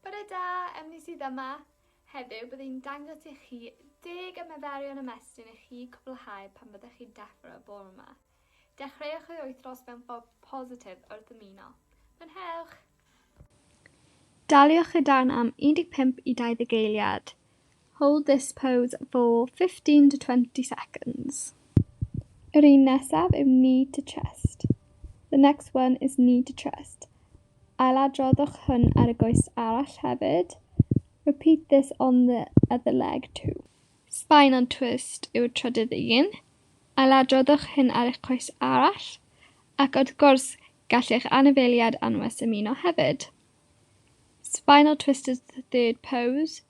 Bore da, Emily sydd yma. Heddiw bydd i'n dangos i chi deg ymaferion ymestyn i chi cwblhau pan byddech chi'n deffro y bore yma. Dechreuwch ei wythnos mewn ffordd positif wrth ymuno. Mwynhewch! Daliwch y darn am 15 i 20 eiliad. Hold this pose for 15 to 20 seconds. Yr un nesaf yw knee to chest. The next one is knee to chest. Ailadroddwch hwn ar y goes arall hefyd. Repeat this on the other leg too. Spine on twist yw'r trydydd un. Ailadroddwch hyn ar eich coes arall, ac wrth gwrs, gall eich anifeiliaid anwes ymuno hefyd. Spinal twist is the third pose.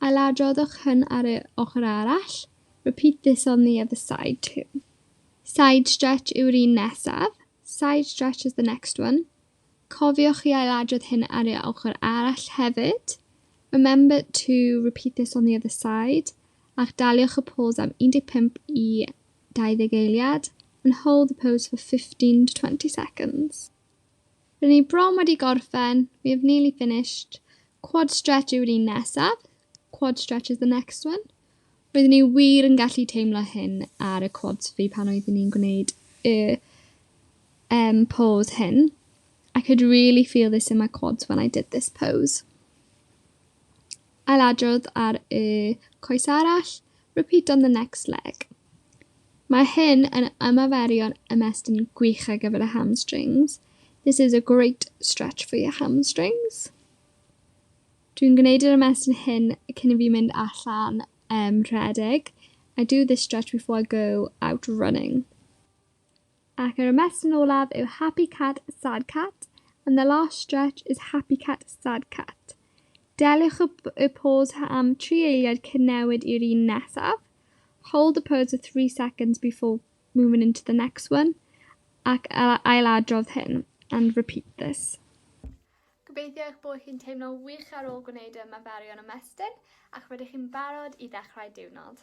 Ailadroddwch hyn ar yr ochr arall, repeat this on the other side too. Side stretch yw'r un nesaf, side stretch is the next one. Cofiwch i ailadrodd hyn ar yr ochr arall hefyd. Remember to repeat this on the other side. Ac daliwch y pose am 15 i 20 eiliad and hold the pose for 15 to 20 seconds. Rŷn ni bron wedi gorffen, we have nearly finished. Quad stretch yw'r un nesaf. Quad stretch is the next one. Roeddwn ni wir yn gallu teimlo hyn ar y quads fi pan oeddwn ni'n gwneud y um, pose hyn. I could really feel this in my quads when I did this pose. Ailadrodd ar y coes arall, repeat on the next leg. Mae hyn yn ymaferion ymestyn gwych ar gyfer y hamstrings. This is a great stretch for your hamstrings. Dwi'n gwneud yr ymestyn hyn cyn i fi mynd allan um, rhedeg. I do this stretch before I go out running. Ac yr ymestyn olaf yw happy cat, sad cat, and the last stretch is happy cat, sad cat. Deliwch y, y pose am tri eiliad cyn newid i'r un nesaf. Hold the pose for three seconds before moving into the next one. Ac ailadrodd hyn, and repeat this. Gobeithio eich bod chi'n teimlo wych ar ôl gwneud y ymaferion ymestyn ac rydych chi'n barod i ddechrau diwrnod.